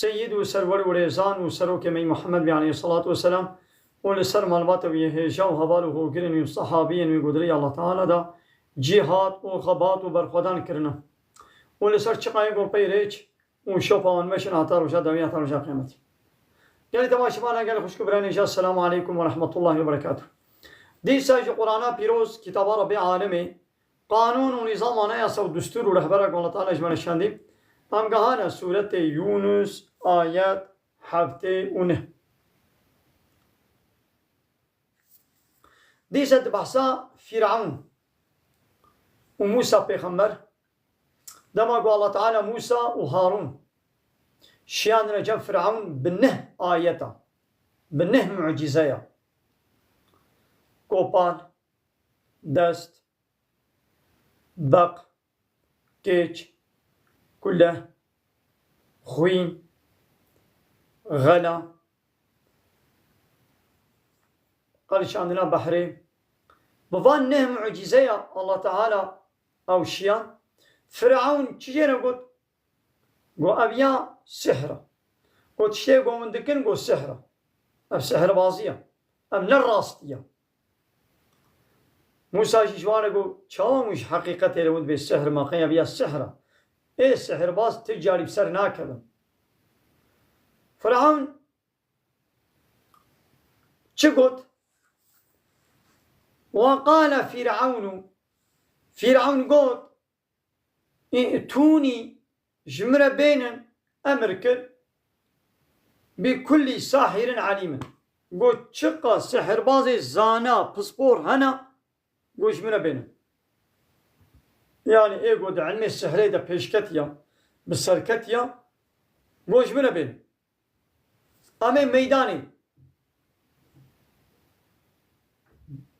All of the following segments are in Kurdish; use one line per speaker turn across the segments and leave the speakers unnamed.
Seyyid û serwer û rêzan û serokê me yî Muhammed bê aleyh selat û selam û li ser malbata wî yê hêja û heval û hogirên wî û sehabiyên wî godirê ya Allah Teala da cîhad û xebat û berxwedan kirine û li ser çiqayê got peyrêç û şopa wan meşin heta roja dawî heta roja qiyameti. Gelê te başî vana gel xwişk û birayê nêjat Selamu aleykum werehmetullahî weberekatû Dîsa jî Qurana pîroz kîtaba Rebê alemê Qanûn û nîzam anayasa û distûr û rehberek welata ne ji me re şandî, em gehane sûretê Yûnûs, ayet, heftê û neh. Dîse di behsa Fîrewn û Mûsa pêxember, dema ku Allah Teala Mûsa û Harûn şiyandine cem Fîrewn bi neh ayeta, bi neh mucîzeya, kopar, dest, beq, kêç, kule, xwîn, xela, qelişandina behrê. Bi van neh mucîzeya Allah Teala ew şiya. Firewn çi jê re got? Got ev ya sihr e. Got tiştê ku hûn dikin got sihr e. Ev sihirbazî ye. Ev ne rastî ye. Mûsa jî ji wan re got, Çawa min ji heqîqetê re û dibê sihr ma qenya biya sihr a? Ê sihirbaz tu carî bi ser nakevin. Firewn çi got? Waqale Fîrewnû, Fîrewn got, Ê Tûnî ji min re bênin, emr kir, bê kulî sahîrin elî min. Got, çiqa sihirbazê zana, pispor hene, got ji min re bênin. Yanî ê ku di ilmê sihirê de pêşketiya, bi ser ketiya, got ji min re bênin. Amê meydanê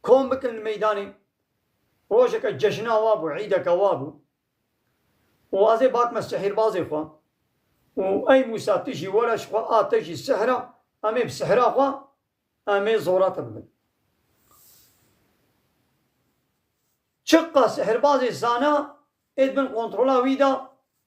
kom bikin li meydanê rojeke cejina wa bû îdeke wa bû û azê bat me sihîrbazê xwe û ey Mûsa tu jî were ji xwe a te jî sihir a emê bi sihira xwe emê zora te bibin. Çiqas sihîrbazê zana ê di bin kontrola wî de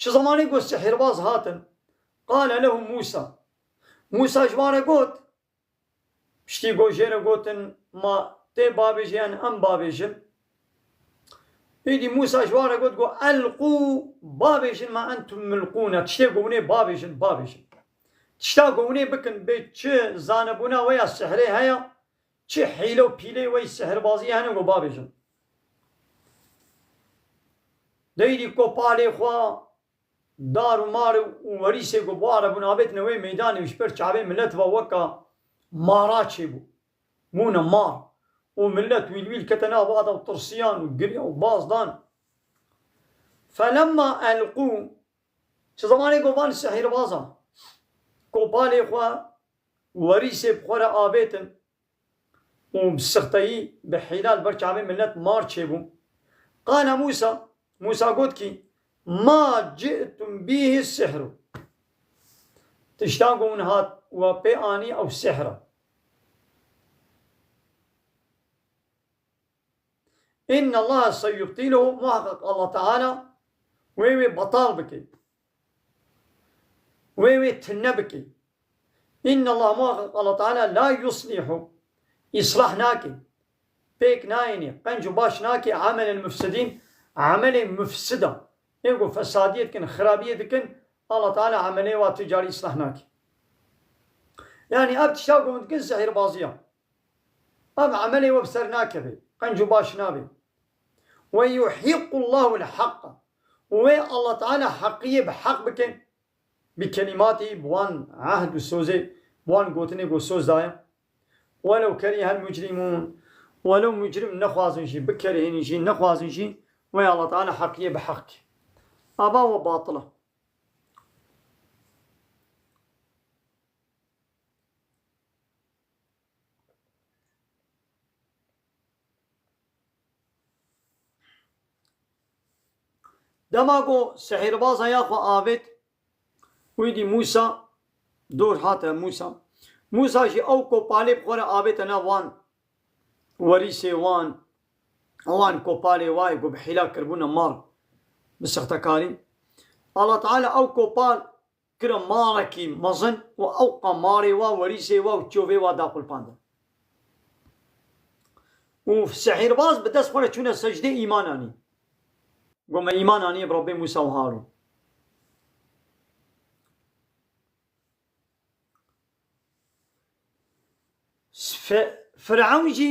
Ji zemanê ku sihîrbaz hatin, qale lehum Mûsa. Mûsa ji wan re got, Piştî ku jê re gotin ma tê bavêjî yan em bavêjin. Êdî Mûsa ji wan re got ku elqû bavêjin ma entum mulqûne, tiştê ku hûn ê bavêjin, bavêjin. Tişta ku hûn ê bikin bê çi zanebûna we ya sihrê heye, Çi hîle û pîlê wey sihirbazî hene ku babêjin deyrî kopalê xwe dar û mar û werîsê ku bare bûn avêtine wê meydanê û ji ber çavê milet ve weka mara çêbû. Bûne mar û milet wîl wîl kete nav wada û tirsiyan û giriya û baz dan. Felemma elqû, ji zemanê ku van sihirbazan kopalê xwe Werîsê bi xwe re avêtin û bi sixteyî, bi hîla li ber çavên milet mar çêbû. Qala Mûsa, Mûsa got kî, Ma ci'tum bîhi sihru. Tişta ku min hat we pê anî ew sihr e. Innallaha seyubtîluhu, muheqeq Allah Teala wê wê betal bike. Wê wê tune bike. Inna Allah ma Allah Teala la yuslihu îslah nake, pêk nayêne, qenc û baş nake amel el mufsidîn amelê mufsidan. Ê ku fesadiyê dikin, xirabiyê dikin Allah Teala amelê wan tu carî îslah nake. Yanî ev tişta ku hûn dikin sihîrbaziya. Ev emelê we bi ser nakeve, qenc û baş nabe. Ve yuhîqu Llahul haqqa, û wê Allah Teala heqiyê bi heq bike, bi kelîmatî, bi wan ehd û sozê, bi wan gotinê ku soz daye, welew kerîhel mucrimûn, welew mucrim nexwazin jî, bikerihînin jî, nexwazin jî, wê Allah Teala heqiyê bi heq ke. Ava we batil e. Dema ku sihîrbaza ya xwe avêt wî dî Mûsa dor hate Mûsa. Mûsa jî ew kopalê bi xwe re avête nav wan werîsê wan wan kopalê wayê ku bi hîla kiribûne mal bi sextekarî. Allah Teala ew kopal Kira malekî mezin û ewqa malê wa, werîsê wa û çovê wa daqulpandin. Û sihîrbaz bi dest xwe re çûne secdê îman anî. Got me îman anîye bi Rabbê Mûsa û Harûn. Firewn jî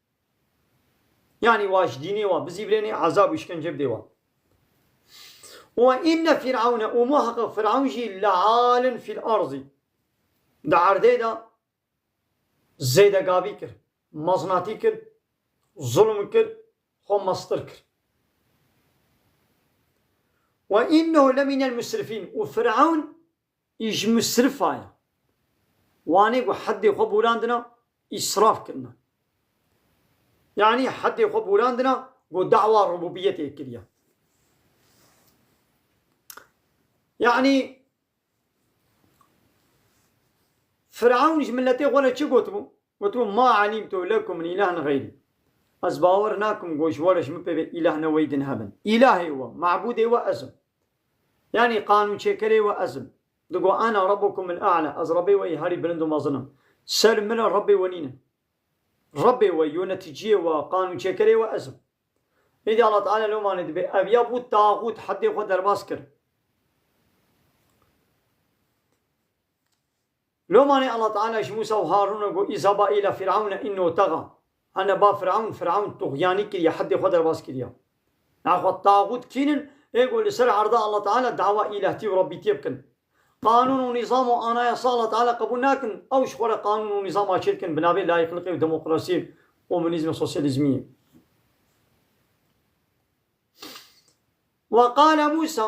Yanî wa ji dînê wan bizîvirênê, ezab û îşkence bidê wan. Wa inne Fîr'ewne û muheqeq Fîr'ewn jî le'alin fîl ardî, di erdê de zêdegavî kir, meznatî kir, zulm kir, xwe mestir kir. Wa innehu lemînel musrifîn û Fîr'ewn Î ji misrifa ye. Wanê ku heddê xwe borandina, îsraf kirina. Yanî heddê xwe borandina ku dawa rububiyetê kiriye. Yanî Firewn ji miletê xwe re çi gotibû? Gotibo, Ma elîmtu lekum min îlahun xeyrî, Ez bawer nakim ku ji were ji min pê ve îlah ne wey din hebin. Îlahê we, mebûdê we ez im. Yanî qanûnçêkerê we ez im. Digo, Ene Rabbukumul E'la, Ez Rebê we yê herî bilind û mezin im. Ser min re Rebê we nîne. Rebê we, yoneticiyê we, qanûnçêkerê we ez im. Îdî Allah Teala loma lê dibe ev ya bû taxût, heddê xwe derbas kir. Lomanê Allah Teala ji Mûsa û Harûn re got, Îzhaba îla Fîr'aûne innehu tega, Hene ba Fîr'aûn, Fîr'aûn tuxyanî kiriye, heddê xwe derbas kiriye. Niha xwe taxût kîn in, ê got li ser erda Allah Teala dawa îlahtî û rabbîtiyê bikin. Qanûn û nîzam û anayasa Allah Teala qebûl nakin, ew ji xwe re qanûn û nîzam aşêr dikin bi navê layîqliqê û demokrasiyê û komûnîzmê sosyalîzmiyê. Waqale Mûsa,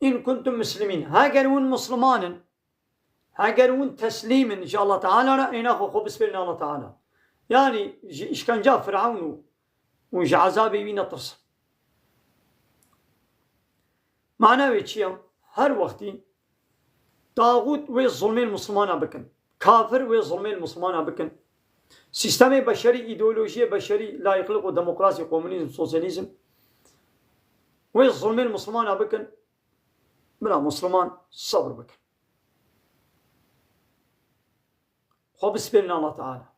in kuntum muslimîn, heger hûn musliman in, heger hûn teslîm in ji Allah Teala re êna xwe xwe bispêrine Allah Teala, yanî ji îşkenca Firewn û û ji ezabê wî netirsin. Mana wê çi ye? Her wextî taxût wê zilmên muslimanan bikin, kafir wê zilmên muslimanan bikin, Sîstemê beşerî, îdeolojiyê beşerî, layîqlik û demokrasî, komûnîzm, sosyalîzm wê zilmên mislimanan bikin, bila misliman sebr bikin. Xwe bisipênin Allah Teala.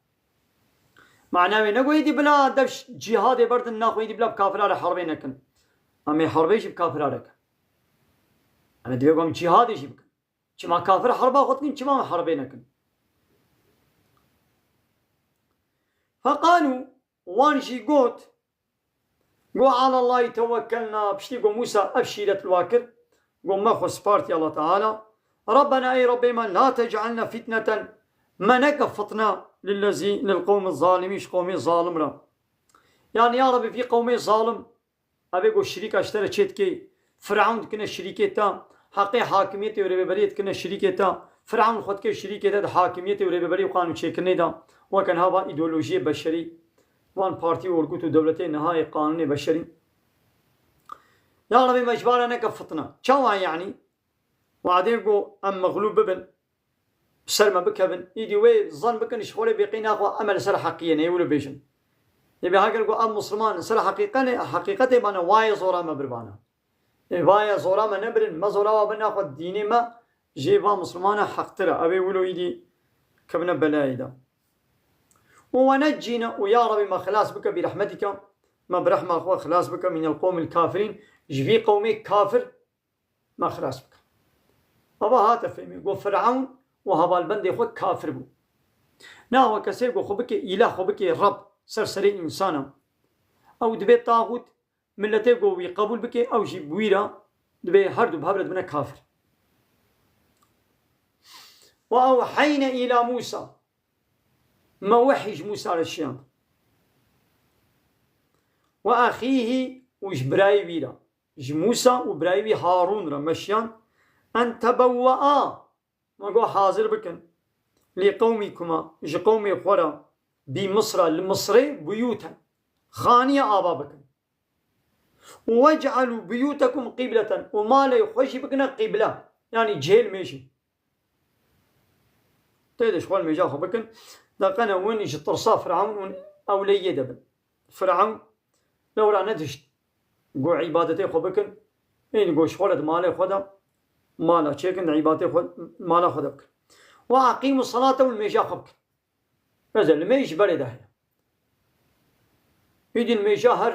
Mana wê negoyê dî bila dev cîhadê berdin, naxwe êdî bila bi kafiran re herbê nekin. Em ê herbê jî bi kafiran re bikin. Em ê divê ku em cîhadê jî bikin. Çima kafir herba xwe dikin çima em herbê nekin. Feqalû wan jî got, Go alallahî tewekkelnâ, piştî go Mûsa ev şîret li wa kir, go me xwe sipartiye Allah Teala, Rabbena ey Rabbê me la tec'elna fîtneten, me neke fitne lillezî lilqewmi zalimîn ji qewmê zalim re. Yanî ya Rabbî vî qewmê zalim Ev ê ku şirîka ji te re çê dike, Firewn dikine şirîkê te, heqê hakimiyetê û rêveberiyê dikine şirîkê te, Firewn xwe dike şirîkê te di hakimiyetê û rêveberî û qanûnçêkirinê de, weke niha va îdeolojiyê beşerî, van partî û urgut û dewletê niha yê qanûnê beşerî. Ya Rebî me ji bar re neke fitne. Çawa yanî? Wadê ku em mexlûb bibin. Bi ser me bikevin, îdî wê zan bikin îşxolê bêqîna xwe em li ser heqî yên, ê wilo bêjin. Ê biha kirin ku em Musliman in, li ser heqîqenê, heqîqetê man in, wayê zora me birbana. Ê vayê zora me nebirin, me zora wan bina xwe dînê me jê van Muslimanan heqtir e, ew ê wilo îdî kevine belayê de. Û we ne cîn e û ya Rabbî me xilas bike bi rehmetî ke, me bi rehma xwe xilas bike mînel qowmil kafirîn, ji vî qewmê kafir, Me xilas bike. Ava hate fêmî ku Firewn û hevalbendê xwe kafir bû. Nawa kesê ku xwe bike îlah, xwe bike reb ser serê însanan. Ew dibe taxût, miletê ku wî qebûl bike ew jî bi wî re dibe herdu bi hev re dibine kafir. Wa ewheyne îla Mûsa, me wehyî ji Mûsa re şiyand. Wa exîhî û ji birayê wî re. Ji Mûsa û birayê wî Harûn re meşiyan, En tebewwe'a, me got hazir bikin, lî qewmîkuma, ji qewmê xwe re, bî Misra, li Misrê, buyûten, xaniya ava bikin. Û wec'elû buyûtekum qîbleten, û malê xwe jî bikine qîble, yanî cihêl mêşin. Tê de ji xwe li mêja xwe bikin. Deqene hûn ji tirsa Firewn û ewleyiyê de bin. Firewn dewra nedişt ku îbadetê xwe bikin, hîn got ji xwe re di malê xwe de mala çêkin di îbadetê xwe mala xwe de bikin. Wa eqîmû selate û li mêja xwe bikin. Beze li mêj berê de heye. Hîdî li mêja her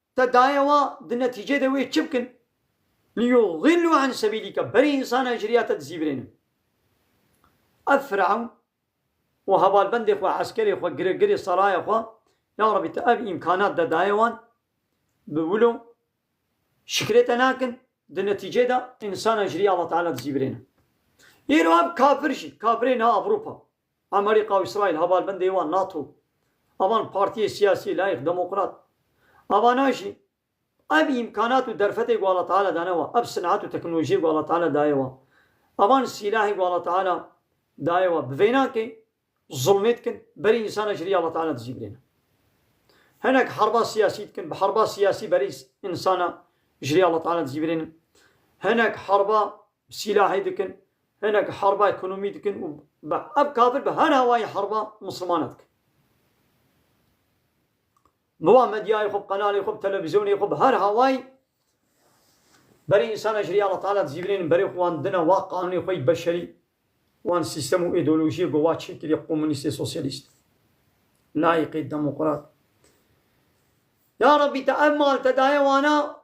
Te daye wa, di netîcê de wê çi bikin? Liyudillu an sebîlî ke berî însanan ji riya te dizîvirênin. Ev Firewn û hevalbendê xwe, eskerê xwe, giregirê seraya xwe, ya Rebî tu ev îmkanat de daye wan, bi wilo şikrê te nakin, di netîcê de însanan ji riya Allah Teala dizîvirênin. Îro ev kafir jî, kafirên a Ewropa, Amerîka û Îsraîl hevalbendê wan nato a van partiyê siyasî layîq demokrat a vanan jî ev îmkanat û derfetê ku Allah Teala dane wan, ev sineat û teknolojiyê ku Allah Teala daye wan, a van sîlahê ku Allah Teala daye wan bi vênan kê zulmê dikin, berî însanan ji rîya Allah Teala dizî birêne. Hinek herba siyasî dikin, bi herba siyasî berî însanan ji rîya Allah Teala dizî birênin. Hinek herba Sîlahî dikin, hinek herba ekonomî dikin û bi ev kafir bi her hawayî herba misilmane dikin. Bi wan medyayê xwe, bi qenalê xwe, bi televîzyonê xwe, bi her hawayî berê însanan ji rêya Allah Teala dizîvirînin, berê xwe wan dina, wa qanûnê xwe yî beşerî, wan sîstem û îdeolojiyê ku wa çêkiriye komûnîstê, sosyalîst, layîqê, demokrat. Ya Rabbî te ev mal te daye wana,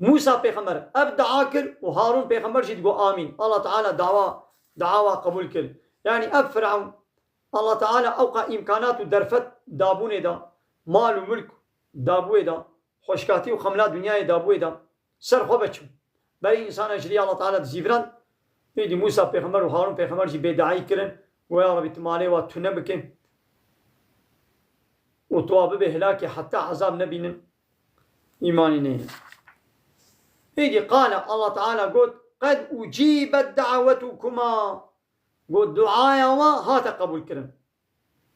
Mûsa pêxember ev dua kir û Harûn pêxember jî digot Amîn. Allah Teala dawa dua wan qebûl kir. Yanî ev Firewn Allah Teala ew qad îmkanat û derfet dabûnê da, mal û mulk dabûyê da, xweşkatî û xemla dinyayê dabûyê da, Ser xwe veçû. Berî însanek ji rîya Allah Teala dizîvirand. Êdî Mûsa pêxember û Harûn pêxember jî bêdeayî kirin, got, Ya Rabbî tu malê wa tune bike û tu wa bibe hilakê heta ezab nebînin. Îmanê nêhêne. Êdî qala Allah Teala got, Qed ucîbet dawetukuma. Got, Duaya wan hate qebûlkirin.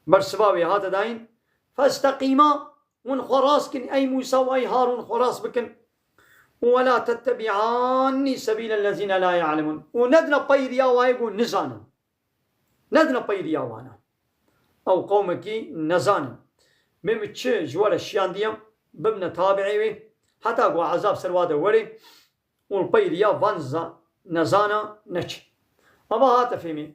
Bersiva wê hate dayîn, Festeqîma, hûn xwe rast kin, ey Mûsa û ey Harûn xwe rast bikin û wela tettebi'annî sebîle lezîne la ye'lemûn û nedine pey riya wayê ku nizanin. Nedine pey riya wan e. Ew qewmekî nezan in. Bê min çi ji we re şiyandiye, bibne tabi'ê wê, heta ku ezab ser wan de were û li pey riya van nezana neçin. Ava hate fêmê,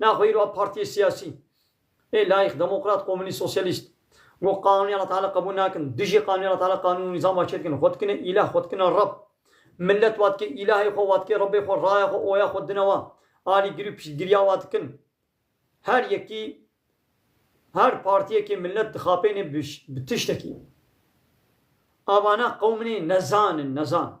Na xwe îro a partiyê siyasî ê layîq, demokrat, komûnîst, sosyalîst ku qanûnê Alla Teala qebûl nakin, dijî qanûnê Alla Teala qanûn û nîzam va çêdikin, xwe dikine îlah, xwe dikine reb. Milet va dike îlahê xwe, va dike rebê xwe, raya xwe, oya xwe dine wan. Alî girî û piştgiriya wan dikin. Her yekî, her partiyekê milet dixapêne bi tiştekî. Avana qewmînê nezan in, nezan.